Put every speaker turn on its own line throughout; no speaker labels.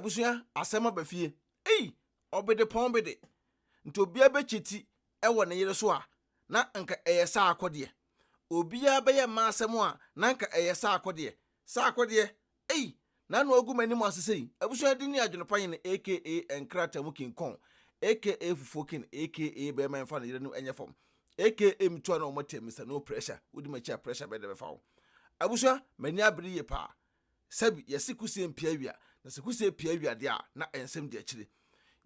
abusua asɛm aba fie. Ei! Ɔbedepɔn bi de, nti obiara bɛkyɛ ti wɔ ne yere so a, na anka ɛyɛ saa akɔdeɛ. Obiara bɛyɛ mma asɛm a, na anka ɛyɛ saa akɔdeɛ. Saa akɔdeɛ! Ei! N'ano agu m'anim ase sei. Abusua din ne Adwene Pa Yene aka Nkratamu King Kong aka Fufuo King aka Bɛɛma Mfa Ne Yere No Nyɛ Fam aka Metu Ano Ɔmo Atia Mister No Pressure Wodi M'akyi A Pressure Bɛn Na Ɛbɛfa Wo? Abusua, m'ani abere yie paa. Sɛbi, yɛse kusee mpia wia, na sɛ kusee pia wia deɛ a, na nsɛm di akyire.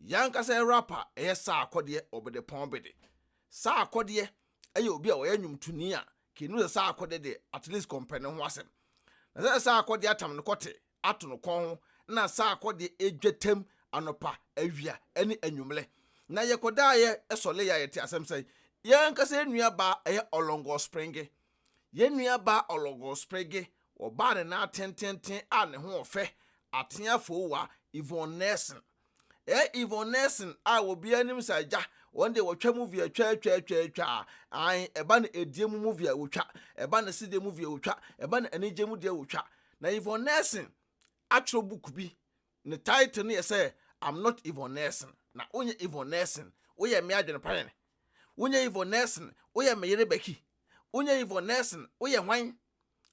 Yɛn ankasa yɛ rapper a ɛyɛ saa akɔdeɛ ɔbedepɔn bede. Saa akɔdeɛ yɛ obi a ɔyɛ nnwomtoni a kei nim sɛ saa akɔdeɛ deɛ at least kɔmpɛ no ho asɛm. Na sɛ saa akɔdeɛ atam ne kɔte ato no kɔn ho na saa akɔdeɛ dwatam anɔpa, awia ne anwummerɛ. Na yɛkɔdaeɛ sɔleeɛ a yɛtee asɛm sɛ yɛn ankasa yɛn nua baa ɛyɛ Ɔlɔngɔɔ Springe. Yɛn nuabaa Ologor Sprigge, wɔbaa ne nan atententen a ne ho ɔfɛ, ateɛ afoowa, Yvonne Nelson. Ɛɛ Yvonne Nelson a obiara nim sɛ agya, wɔn deɛ wɔtwa movie a twaa-twaa-twaa-twaa, ae, ɛba no adie mu movie a wɔtwa, ɛba no sedeɛ movie a wɔtwa, ɛba no anigyeɛ mu deɛ wɔtwa. Na Yvonne Nelson atwerɛ book bi, Ne title no yɛ sɛ I'm not Yvonne Nelson. Na wonyɛ Yvonne Nelson, woyɛ mmea adwenepɛn. Wonyɛ Yvonne Nelson, woyɛ me yere Becky. Wonyɛ Yvonne Nelson, woyɛ hwan?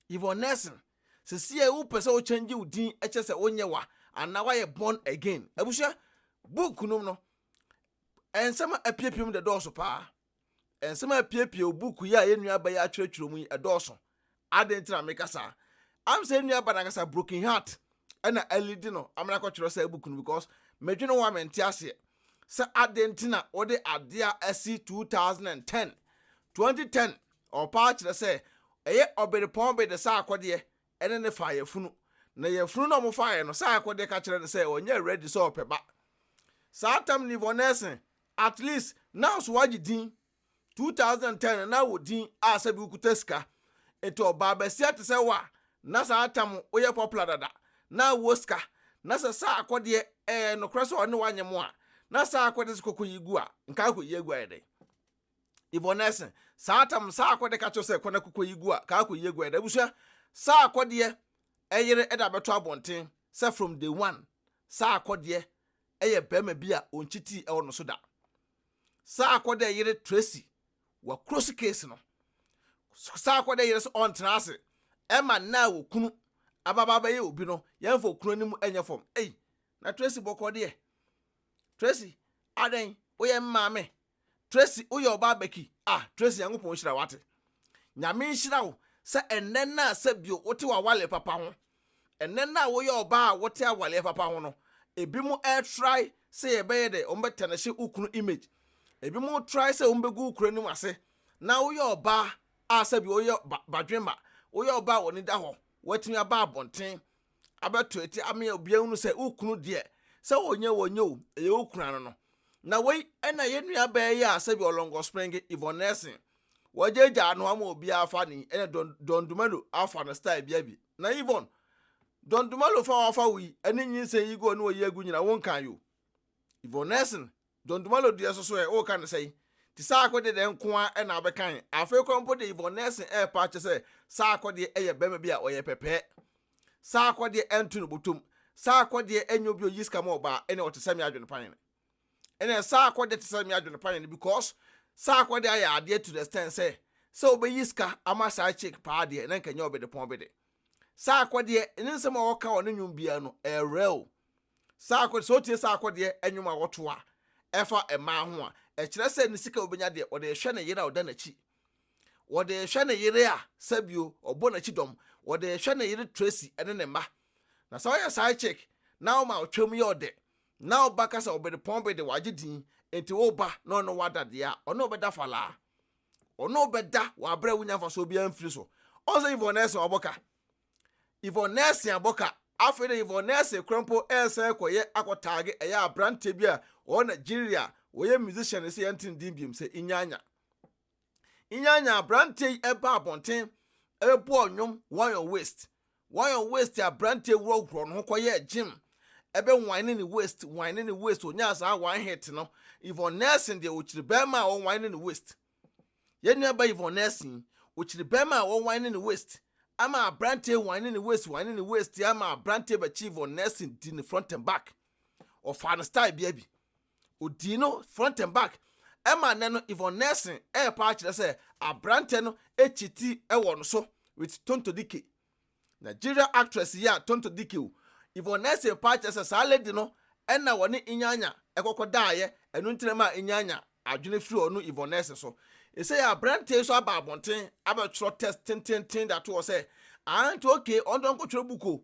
Yvonne Nelson, sesie a wopɛ sɛ wo change wo din kyerɛ sɛ wonyɛ wa anaa woayɛ born again. Abusua, book nom no, nsɛm a apiapia mu dɛdɔɔso paa. Nsɛm a epiapia wɔ buukuu yi a yɛn nuabaa yi atwerɛtwerɛ mu yi, ɛdɔɔso. Adɛn nti na meka saa? Am sɛ yɛn nuabaa no ankasa, Broken Heart, ɛna alidi no ama no akɔtwerɛ saa buku no because medwene ho a mente aseɛ sɛ adɛn nti na wɔde adeɛ a asi 2010, 2010 ɔpaa kyerɛ sɛ ɛyɛ ɔberepɔn be de saa akɔdeɛ ɛne ne faa yɛfunu na yɛfunu na wɔfaa yɛ no saa akɔdeɛ ka kyerɛ no sɛ ɔnyɛ ready sɛ ɔpɛ ba. Saa tam Nivonesen At least nowso wagye din, two thousand and ten no na wɔ din a sɛbi wo kuta sika, nti ɔbaa basia te sɛ wo a na saa tam wo yɛ popular dada na wo wɔ sika na sɛ saa akɔdeɛ ɛyɛ nokorɛ sɛ ɔne wo anyɛ mo a na saa akɔdeɛ sɛ kɔkɔ yi gu a nka akɔ yi agu ayɛ dɛn Yvonnese saa tam saa akɔdeɛ ka kyerɛ sɛ kɔ na kɔkɔ yi gu a ka akɔ yi agu ayɛ dɛn abusua saa akɔdeɛ ɛyere ɛda bɛto abɔnten sɛ from day one saa akɔdeɛ yɛ barima bi a onnkyitii wɔ no so da. Saa kɔ dɛ yere Tracy wɔ Krosi case no. Saa kɔ dɛ yere sɛ ɔnntena ase ma nna a okunu ababa bɛyɛ obi no yɛmmfa okunu anim nyɛ fam. Ei, na Tracy bɔkɔ deɛ. Tracy, adɛn, woyɛ me maame? Tracy wo yɛ ɔbaa bɛki ah Tracy Nyankopɔn nhyira wo ate Nyame nhyira wo sɛ ɛnnɛ no a sɛ bio wote w'awaleɛ papa ho ɛnnɛ no a wo yɛ ɔbaa a wote awaleɛ papa ho no ebi mo ɛ try sɛ yɛ bɛyɛ dɛ wɔn bɛ tɛnɛhye wo kunu image ebi mo try sɛ wɔn bɛ gu wo kura nim ase na wo yɛ ɔbaa a sɛ bio wo yɛ ba badwemma wo yɛ ɔbaa a wɔn ani da hɔ wɔatumi aba abɔnten abɛto eti amea obi ahunu sɛ wo kunu deɛ sɛ wɔnyɛ wɔnyɛ o ɛyɛ wo kunu ano no na wei ɛna yɛ nua bɛɛ yɛ a sɛbi ɔlɔnkɔ spring Yvonne Nelson wɔagyaagya ano ama obi afa ne ɛna Don, Don Dumelo afa no style bia bi na Yvonne Don Dumelo fa wafa wo yi ɛne nyinsɛn yi gu ɔne ɔyi agu nyina wo nkan yo Yvonne Nelson John Dumalo deɛ nso so ɛ, wo reka no sɛn? Nti saa akɔdeɛ deɛ nko ara na wobɛkan? Afei koraa mpo deɛ Yvonne Nelson repa akyɛ sɛ saa akɔdeɛ yɛ barima bi a ɔyɛ pɛpɛɛ. Saa akɔdeɛ ɛnto no botom. Saa akɔdeɛ ɛnyɛ obi a ɔyi sika ma ɔbaa, ɛnneɛ ɔte sɛ me adwene panyini. Ɛnneɛ saa akɔdeɛ te sɛ me adwene panyini because saa akɔdeɛ ayɛ adeɛ to the extent sɛ, sɛ wobɛyi sika ama saa chick paa deɛ na nka ɛnyɛ ɔbedepɔn bede. Saa akɔdeɛ ne nsɛm a wɔka wɔ ne nnwom biara no, ɛyɛ real. Saa akɔdeɛ, sɛ wotie saa akɔdeɛ nnwom a wɔto a ɛfa mmaa ho a, ɛkyerɛ sɛ ne sika a obenya deɛ, ɔde rehwɛ ne yere a ɔda n'akyi. Ɔde rehwɛ ne yere a sɛbio ɔbɔ n'akyi dɔm. Ɔde rehwɛ ne yere Tracy ne ne mma. Na sɛ woyɛ side chick na woma wo twam yɛ ɔdɛ, na wo ba ka sɛ ɔbedepɔn bede wagye din, enti wo ba ne ɔne wo ada deɛ a, ɔne wo bɛda falaa. Ɔno bɛda wɔ aberɛ a wonya mfasoɔ biara mfiri so. Ɔn sɛ Yvonne Nelson wabɔ ka. Yvonne Nelson abɔ ka. Afei de Yvonne Nelson koraa mpo resan akɔyɛ akɔtaage ɛyɛ aberanteɛ bi a ɔwɔ Nigeria a ɔyɛ musician ɛsɛ yɛnte ne din biom sɛ Inyanya. Inyanya aberanteɛ yi ɛbaa abɔnten ɛbɛbɔɔ nnwom Why Your Waist. Wayɔn waist abranteɛ wurɔ wurɔ ne ho kɔ yɛ gym ɛbɛ whine ne waist whine ne waist onyaa saa one hit no Yvonne Nelson deɛ okyiri bɛɛma a ɔwhine ne waist yɛ nua ba Yvonne Nelson yi okyiri bɛɛma a ɔwhine ne waist ama abranteɛ whine ne waist whine ne waist ama abranteɛ bɛkyi Yvonne Nelson di ne front and back ɔfaa ne style bia bi Odii no front and back ma nnɛ no Yvonne Nelson repa akyerɛ sɛ aberantɛ no akyi ti wɔ no so with Tonto Dikeh. Nigeria actress yi a Tonto Dikeh o, Yvonne Nelson pa akyerɛ sɛ saa lady no na wɔne Inyanya kɔkɔ daeɛ ɛno nti na ɛmaa Inyanya adwene firi ɔno Yvonne Nelson so. Ɛsei aberantɛ yi nso aba abɔnten abɛtwerɛ test tenteenten de ato hɔ sɛ aah nti okay ɔno deɛ ɔnkɔtwerɛ book o.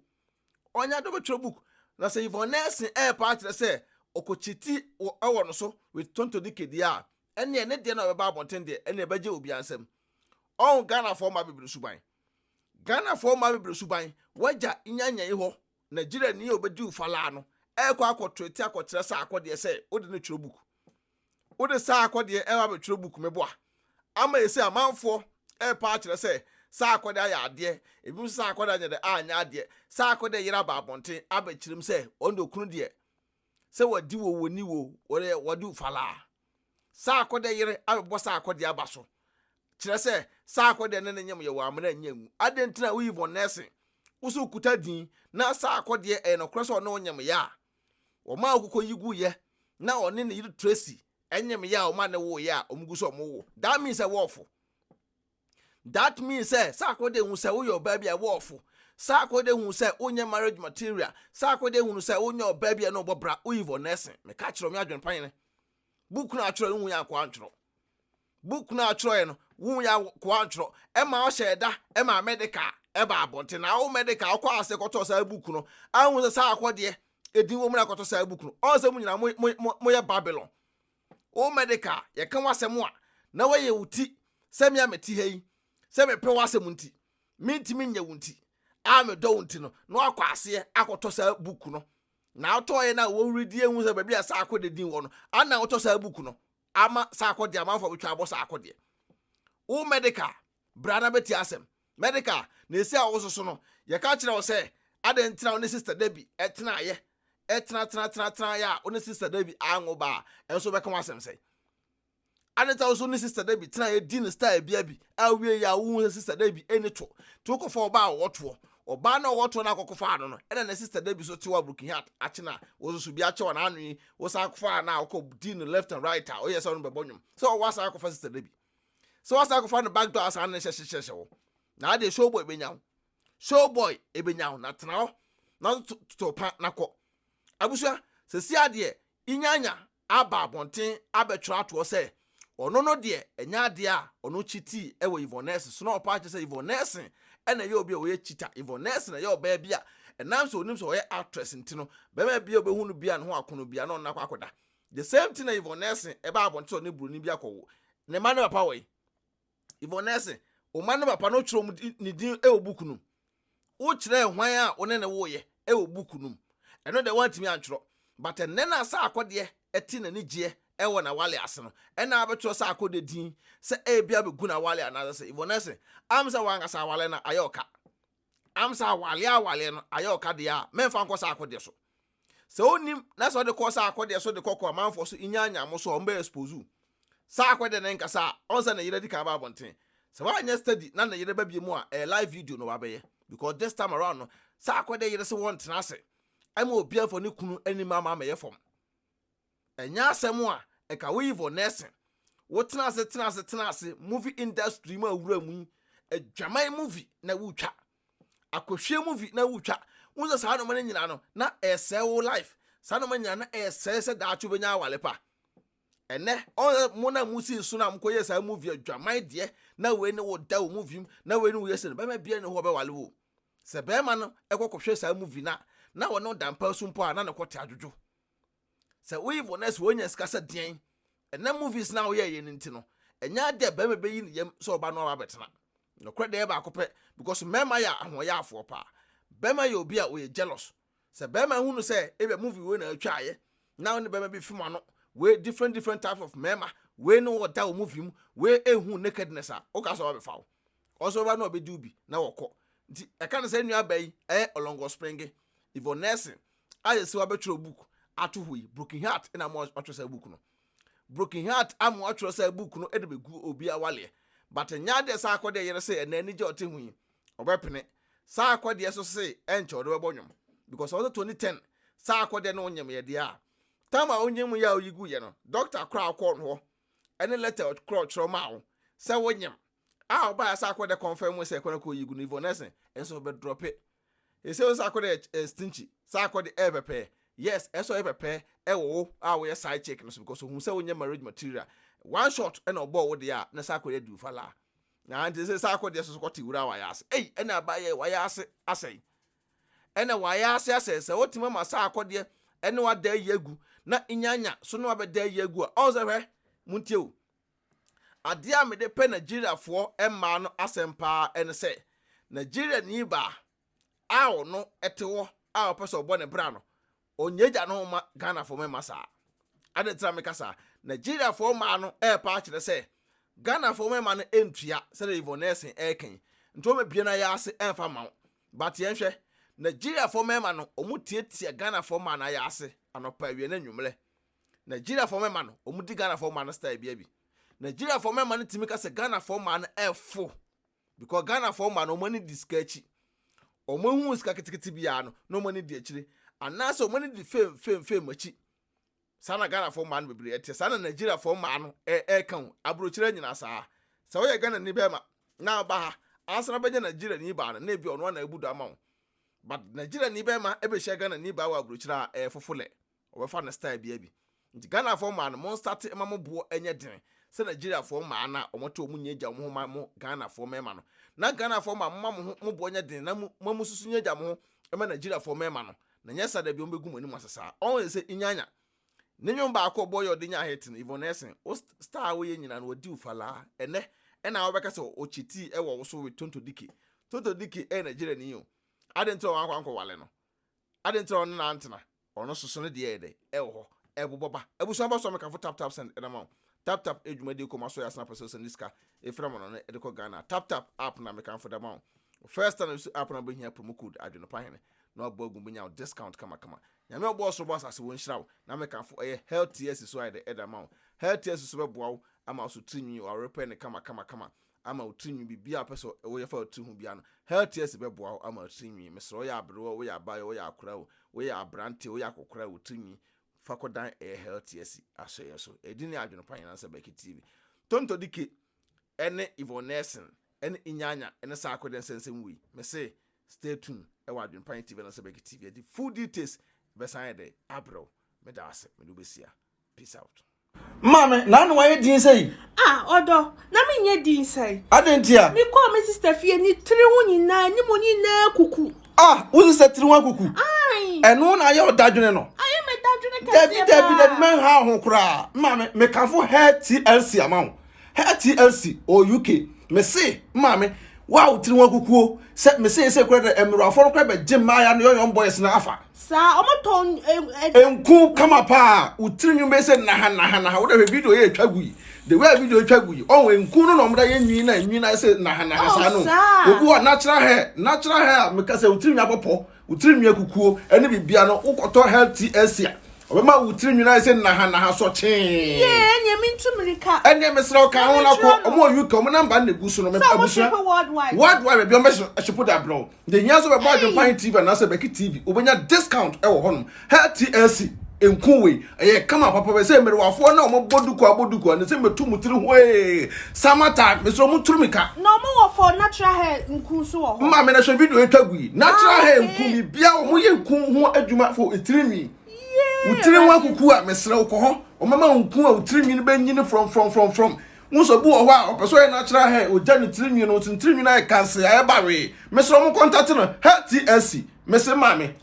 ɔnya do bɛtwerɛ book, na sɛ Yvonne Nelson rep ara kyerɛ sɛ ɔkɔkyi ti wɔ no so with Tonto Dikeh deɛ a, ɛnneɛ ne deɛ na ɔbɛba abɔnten deɛ, ɛnneɛ ɛbɛgye obiara nsam. Ɔho Ghanafoɔ mmaa bebree suban. Ghanafoɔ mmaa bebree suban, w'agya nya nyɛyi hɔ, Nigeriani a ɔbɛdi wo falaa no, ɛrekɔ akɔtwerɛ ti akɔkyerɛ saako deɛ sɛ wode no twerɛ book. Wode saa akɔdeɛ reba abɛtwerɛ book mɛbɔ a. Ama yɛ sɛ amanfoɔ repɛ akyerɛ sɛ saa akɔdeɛ ayɛ adeɛ, ebi nso saa akɔdeɛ anyɛ dɛ anyɛ adeɛ. Saa akɔdeɛ yere aba abɔnten abɛkyerɛ mu sɛ ɔno deɛ okunu deɛ sɛ wadi wo wɔni wo wɔde wɔde wo falaa. Saa akɔdeɛ yere abɛbɔ saa akɔdeɛ aba so kyerɛ sɛ saa akɔdeɛ ne ne nyem yɛ wɔ amena nyɛ ngu. Adɛn nti na woyi von nɛɛsen? Wo so wokuta din na saa akɔdeɛ ɛyɛ nokorɛ sɛ ɔne wo nyem yɛ a. Wɔmaa okoko yi guiɛ na ɔne ne yere Tracy nyem ya a wɔn a ne woeɛ a wɔn gu sɛ wɔn wo. That means sɛ wɔɔfo. That means sɛ saa akɔyɛ dɛ hu sɛ woyɛ ɔbaa bi a wɔɔfo. Saa akɔyɛ dɛ hu sɛ wonyɛ marriage material. Saa akɔyɛ dɛ hunu sɛ wonyɛ ɔbaa bi a na ɔbɔ bra, woyi vɔ nɛɛsen. Meka kyerɛ wo, me adwene pa yene. Book no a atwerɛ no hu yɛ ankoa antwerɛ. Book no a ɔkyerɛwee no, wohu yɛ akoa ntwerɛ, ɛma ɔhyɛɛ da maa Mɛdeka baa abɔnten. Na wo Mɛdeka wokɔɔ ase kɔtɔɔ saa book no, a wohu sɛ saa akɔdeɛ edin wɔ mu na akɔtɔ saa book no. Ɔn sɛ mo nyinaa mo, mo, mo, moyɛ Babylon. Wo Mɛdeka, yɛka w'asɛm a, na woayɛ wo ti sɛ me a mete ha yi, sɛ mepɛ w'asɛm nti, mentumi nyɛ wo nti, a medɔ wo nti no, na woakɔ aseɛ akɔtɔ saa book no. Na wotɔɔeɛ no a, wohuri di ehu sɛ baabi a saa akɔdeɛ din wɔ no, a na wotɔ saa book no. ama saa akɔdeɛ amanfoɔ bɛtwa abɔ saa akɔdeɛ wo medical bra na bɛti asɛm medical na ɛsi a wososo no yɛka kyerɛ wo sɛ adɛn ntina wo ne sister da bi ɛtenaeɛ ɛtenatenatenatenaeɛ a wo ne sister da bi anwo ba a ɛnso bɛka wo asɛm sɛ ade ta wo so ne sister da bi tenaeɛ di ne style bia bi awie yɛ a wohu sɛ sister da bi ɛni to nti wokɔfa ɔba a wɔtoɔ Ɔbaa no a ɔwɔ toɔ no a kɔkɔfaa no no, ɛna ne sister da bi so te wɔ Aburukihat akye no a, wɔso so bi akyɛ wɔn ano yi, wosan akɔfaa no a ɔkɔ di no left and right a, ɔyɛ sɛ ɔno bɛbɔ nnwom. Sɛ ɔwɔ asan akɔfa sister da bi. Sɛ wasan akɔfa no back door a saa na ɛhyɛ hyehyɛhyɛ wo. Na adeɛ show boy bɛnya wo. Show boy ɛbɛnya wo na tena hɔ na to pa na kɔ. Abusua, sɛsi adeɛ, inyanya aba abɔnten abɛtwerɛ atoɔ sɛ ɔno no deɛ ɛnyɛ adeɛ a ɔno kyitii wɔ Yvonne Nelson so na ɔpa akyerɛ sɛ Yvonne Nelson na ɛyɛ obi a ɔyɛ cheater. Yvonne Nelson ɛyɛ ɔbaa bi a ɛnam sɛ ɔnim sɛ ɔyɛ actress nti no bɛrima bi a ɔbɛhu no bia ne ho akono bia na ɔno akɔ akɔda. The same thing na Yvonne Nelson ɛbaa abɔnten sɛ ɔne buroni bi akɔwo ne mma ne papa wɔ yi. Yvonnese, wo mma no papa no kyerɛw ne din wɔ buku no mu. Wokyerɛɛ hwan a wo ne no woeɛ wɔ buku no mu. Ɛno deɛ woantumi antwerɛ. But ɛnnɛ no a Saako deɛ te n'anigyeɛ wɔ n'awale ase no, ɛna abɛtwerɛ Saako deɛ din sɛ ebia bɛgu n'awale anaasɛ sɛ. Yvonnese, am sɛ w'ankasa awale no ayɛ ɔka. Am sɛ awaleɛ awaleɛ no ayɛ ɔka deɛ a, mɛmfa nkɔ Saako deɛ so. Sɛ onnim na sɛ ɔde kɔ saa akɔdeɛ so de kɔ kɔ amanfoɔ so nyaa nyaa mo so a wɔn bɛ expose wo. Saa akɔdeɛ no nkasa a ɔn sɛ ne yere adi kan aba abɔnten. Sɛ wanyɛ steady na ne yere ba biemu a ɛyɛ live video na wabɛyɛ because this time around no saa akɔdeɛ yere se wɔntena ase ɛma obiara mfa ne kunu anim ama amɛyɛ fam. Ɛnyɛ asɛm a ɛka wo Ivor Nelson wo tena ase tena ase tena ase movie industry mu a wura mu yi adwaman movie na wotwa akɔhwie movie na wotwa wo sɛ saa noma no nyinaa no na ɛsɛe wo life saa noma nyinaa na ɛsɛe sɛ daakye wobɛnya awale pa ɛnɛ ɔyɛ mo na mo si so na mo kɔyɛ saa movie adwaman deɛ na wei ne wo da wo movie mu na wei ne wo yɛ sɛ no bɛma bia ne hɔ bɛwale wo sɛ bɛrima no ɛkɔ kɔhwɛ saa movie na na wɔne ɔdampa so mpo a na ne kɔte adwodwo sɛ woyɛ wɔ nurse wonya sika sɛ deɛn ɛnɛ movies na woyɛ yɛ no nti no ɛnyɛ adɛ bɛrima bɛyi ne yam sɛ ɔba no aba bɛtena nokorɛ deɛ baako pɛ because mmarima yɛ ahoɔyaafoɔ paa bɛrima yɛ obi a ɔyɛ jealous sɛ bɛrima hunu sɛ ebia movie wei na atwaayɛ na ne bɛrima bi fim ano wei different different types of mmarima wei ne ɔda wɔ movie mu wei ehu nakedness a woka sɛ ɔbɛfa wo Ɔsɔre ba no a ɔbɛdi wo bi na wɔkɔ. Nti ɛka no sɛ nua baa yi ɛyɛ Ɔlɔngɔ Springe, Yvonne Nelson a yɛsi wabɛtwerɛ book ato hɔ yi, Broken Heart na ama watwerɛ saa book no. Broken Heart ama watwerɛ saa book no de bɛgu obi awaleɛ. But ɛnyɛ adeɛ saa akɔdeɛ yere se ɛnɛ anigye a ɔte ho yi, ɔbɛpene. Saa akɔdeɛ so se ɛnkyɛ ɔde bɛbɔ nwom. Because ɔsɛ 2010 saa akɔdeɛ no nyem yɛ deɛ a. Time a ɔnyem yɛ a ɔyi gu yɛ no, doctor koraa kɔɔ no hɔ ne lɛtɛ a ɔtwerɛ ɔtwerɛ maa wo sɛ wonyem a ɔbaa sɛ akɔ dɛ kɔnfɛn mu sɛ ɛkɔ no kɔ yi gu no ivon ɛsɛ ɛsɛ ɔbɛ drɔpe ɛsɛ ɔsɛ akɔ dɛ ɛ stinky sɛ akɔ de ɛ pɛpɛ yes ɛsɛ ɔyɛ pɛpɛ ɛwɔ wo a wɔyɛ side check no so because ohun sɛ wonyɛ marriage material one shot ɛna ɔbɔɔ wo deɛ a na sɛ akɔ yɛ di ufa laa na nti sɛ sɛ akɔ deɛ soso kɔte wura wayɛ ase ei ɛna abayɛ wayɛ ase asɛe ɛna w'ayɛ ase asɛ sɛ wotumi ama saa akɔdeɛ ɛne wada ayi agu na nyanya so ne wabɛda ayi agu a ɔn sɛ hwɛ montie o adeɛ a mede pɛ nigeriafoɔ mmaa no asɛm paa ɛne sɛ nigeria ni baa a ɔno ɛte hɔ a ɔpɛ sɛ ɔbɔ ne bra no Onyegya no mma Ghanafoɔ mma mma saa. Adɛn nti na meka saa? Nigeriafoɔ mmaa no repa akyerɛ sɛ Ghanafoɔ mmarima no ntua sɛdeɛ Yvonne Nelson reka yi. Nti wɔbɛbue no ayaase ɛmfa mma wo. But yɛnhwɛ, Nigeriafoɔ mmarima no wɔtiatia Ghanafoɔ mmaa no ayaase anɔpa, awia ne anwummerɛ. Nigeriafoɔ mmarima no wɔdi Ghanafoɔ mmaa no style biara bi. Nigeriafoɔ mmarima no tumi ka sɛ Ghanafoɔ mmaa no ɛfo. because Ghana foɔ mma no wɔn ani di sika akyi wɔn ehu sika ketekete biara no na wɔn ani di akyire anaasɛ wɔn ani di fame fame fame akyi saa na Ghana foɔ mma no bebree ɛte saa na Nigeria foɔ mma no ɛɛka ho aburokyerɛ nyinaa saa sɛ wɔyɛ Ghana ni bɛrima na ɔba ha ansa na bɛnya Nigeria ni baa no na ebi ɔno ana ebu do ama wɔn but Nigeria ni bɛrima ɛbɛhyia Ghana ni baa wɔ aburokyerɛ a ɛɛfofo lɛ. Wɔbɛfa no style biaa bi. Nti Ghanafoɔ mmaa no monstate mma mo boɔ nyɛ den sɛ Nigeriafoɔ mmaa no a wɔte wɔn nyɛ gya wɔn ho mma mo Ghanafoɔ mmarima no. Na Ghanafoɔ mmaa momma mo ho mo boɔ nyɛ den na mo mo nso so nyɛ gya mo ho mma Nigeriafoɔ mmarima no na nyɛ saa dabi wɔbɛgu mo anim ase saa. Ɔho yɛ sɛ Inyanya ne nwom baako ɔbɔɔ yɛ ɔde nyaa hit no Yvonne Essing wo style a woyɛ nyinaa no wɔdi wo falaa ɛnɛ ɛna wobɛka sɛ wɔ cheatii ɛwɔ wo so with Tonto Dikkie. Tonto Dikkie ɛyɛ Nigeriani o. Adɛn nti na wɔankɔ ankɔwale no? Adɛn nti na ɔne no antena? Ɔno soso ne deɛ yɛ dɛ ɛwɔ hɔ ɛbobɔ ba abusua ba so amekafo tap tap send ɛdama wo tap tap edwuma die kɔma so yɛ asena pɛsɛ osɛnde sika efira ma no ne ɛde kɔ Ghana tap tap app na mekanfo dama wo first time esu app na wobehia promo code adwene pa hene na wabɔ agu benya wo discount kama kama nyame ɔbɔ ɔsoro bɔ asase wɔ nhyira wo na mekanfo ɛyɛ health tea asi so ayɛ dɛ ɛdama wo health tea asi so bɛboa wo ama wo so tiri nwi wo awere pɛ ne kama kama kama ama wo tirinwi biribiara a wopɛ sɛ woyɛ fa wo tiri ho biara no healthiest bɛboa wo ama wo tirinwi mesrɛ woyɛ aberewa o woyɛ abaayɛ woyɛ akora o woyɛ aberante woyɛ akokora wo tirinwi fa kɔdan ɛyɛ healthiest asɔ yɛn so ɛdi ne adwene pa nyinaa sɛ bɛki tv tonto dike ɛne yvonne nelson ɛne inyanya ɛne saa akɔdɛ nsɛnsɛm wei mese stay tuned ɛwɔ adwene pa tv na sɛ bɛki tv ɛde full details bɛsan yɛ dɛ abrɛw meda ase mede wobɛsia Peace out. Maame, na ano ayɛ din sɛ yi. Ah, ɔdɔ,
na me nyɛ din sɛ yi. Adɛn nti a? Me kɔɔ
me sister
fie, ne tiri ho nyinaa, anim nyinaa akuku. Ah, wo sister tiri
ho akuku? Ayi. Ɛno na ayɛ ɔdadwene no? Ayɛ me dadwene kɛseɛ
paa. Dabi, dabi, dabi, mɛnha
ho koraa. Maame, me kanfo hair TLC ama wo. Her TLC or UK me se maame wo a wo tiri ho akukuo sɛ me se ese kura dɛ ɛmmerɛwafoɔ no kura bɛ gye mmaaya no yɔyɔn boys no afa. Saa ɔmo
tɔn ɛ. Nku
kama paa wo tiri nwin bɛ se naha naha naha wo da hwɛ video yɛ etwa gu yi the way a video etwa gu yi ɔho nku no na ɔmo da yɛ nwin na nwin na ese naha naha saa no obi wɔ natural hair natural hair a me ka sɛ wo tiri nwin abɔ pɔ. Wo tirinwi akukuo ne biribiara no wokɔtɔ health tea ase a ɔbɛma wo tirinwi no ayɛ sɛ nahanaha sɔ kyee. Yee ɛneɛ
mentu mirika. Ɛneɛ mesrɛ wo ka ho
na kɔ ɔmo wɔ UK ɔmo namba na egu so no mepɛ abusua. Worldwide baabi ɔmo bɛhyɛ shipo de abrɛ wo. Deɛ hia sɛ wobɛbɔ Adwempa He TV anaasɛ Bɛki TV wobɛnya discount ɛwɔ hɔnom Her TLC nku wei ɛyɛ kama papa bɛ sɛ mmerewafoɔ na wɔn bɔ duku abɔ duku a ne sɛ mɛtu mu tiri hwee sama time mesɛ wɔn turu mi ka. na wɔn wɔ for natural hair nku nso wɔ
hɔ. Mma mi na hwɛ video etwa
gu yi natural ah, hair nku mi bia wɔn yɛ nku ho adwuma fo etiri nwi wotiri ho akuku a mesrɛ wokɔ hɔ wɔn mɛma nku a wotiri nwi no bɛ nyini from from from from wɔn sɛ bu wɔ hɔ a ɔpɛ sɛ ɔyɛ natural hair ogya ne tiri nwi no wɔn tiri nwi no ayɛ kanse ayɛ bawee mesrɛ wɔn kɔntate no hair tlc mese maame.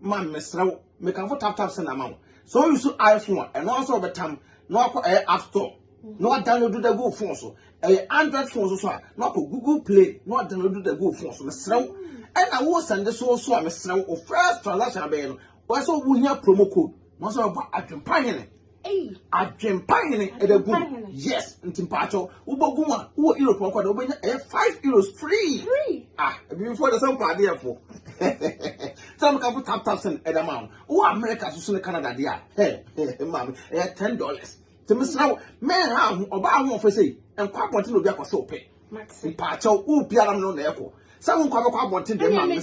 man mesrɛ wo mekamfo tap tap sɛ na ma wo sɛ o use iphone a ɛno nso ɔbɛtam na wakɔ ɛyɛ eh, app store na wadownload da gu phone so ɛyɛ eh, android phone so so a na wakɔ google play na wadownload da gu phone so mesrɛ wo ɛna wo sɛnde so so a mesrɛ wo first transaction abɛyɛ no wɔsɛ wohia promo code na wɔsɛ wɔbɔ adwempa hene Adwempa hene ɛbɛ gu yes nti mpaatɔ wobɔ gu a wowɔ europe ɔkɔ na wobɛnya ɛyɛ five euros free ah ebifoɔ de sɛ mpɔ adeɛfo sɛ mo kafo tap tap sɛn ɛda ma wo wowɔ america soso ne canada deɛ a hɛ maame ɛyɛ ten dollars nti mesrɛ wo mɛnha ho ɔbaa ho ɔfɛ sei nkɔ abɔnten na obi akɔ sɛ ɔpɛ mpaatɔ wo biara no na ɛkɔ sɛ wo nkɔ abɛkɔ abɔnten deɛ maame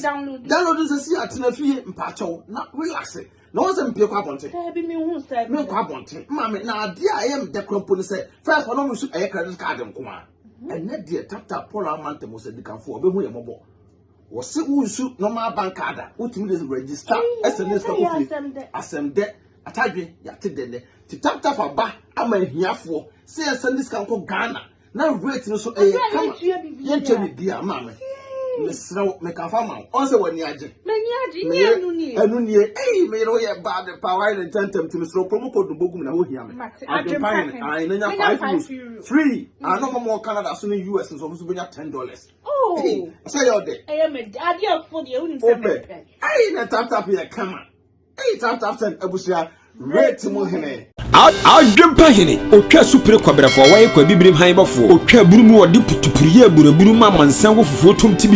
download nsɛ si atena fie mpaatɔ na relax Na wɔn sɛ mpie kɔ abɔnten. Daabi mi hu sɛ. Mi nkɔ abɔnten. Maame na adeɛ a ɛyɛ mi dɛ kura mpo ne sɛ fɛs wɔn mu nso ɛyɛ credit card nko ara. Mhm. Ɛnɛ deɛ tata Paul Amante mo sɛ dikanfo ɔbɛhu yɛ mɔbɔ. Wɔsi wo nsu normal bank card a wotumi de register ɛsɛ ne sika kofie. Asɛm dɛ atadwe yate dɛ nɛ. Ti tap tap aba ama ahiafoɔ sɛ yɛsɛ ne sika nkɔ Ghana. na rate no so ɛyɛ kama yɛntua biribi a maa me mesrɛ wo meka fa ma wo ɔn sɛ w'ani agye meyɛ ɛno nie ei meyere woyɛ bad pa wayɛ ne ntɛntɛm nti mesrɛ promo code no bɔgu me na wohia me adwempa hene ae na nya 5 euros free ano ma mɔ canada so ne us nso ɔmo so bɛnya 10 dollars oh. sɛ yɛ ɔdɛ wopɛ ei na taptap yɛ kama Eyi tap tap ten abusua rate mu hene. Adwempa
hene, otwa supire kwabrɛfoɔ, wɔyɛ kwa bibirim han bɔfoɔ, otwa aburu mu, wɔde putupuru yɛ aburaburu ma amansan wɔ fufuo tom ti bi.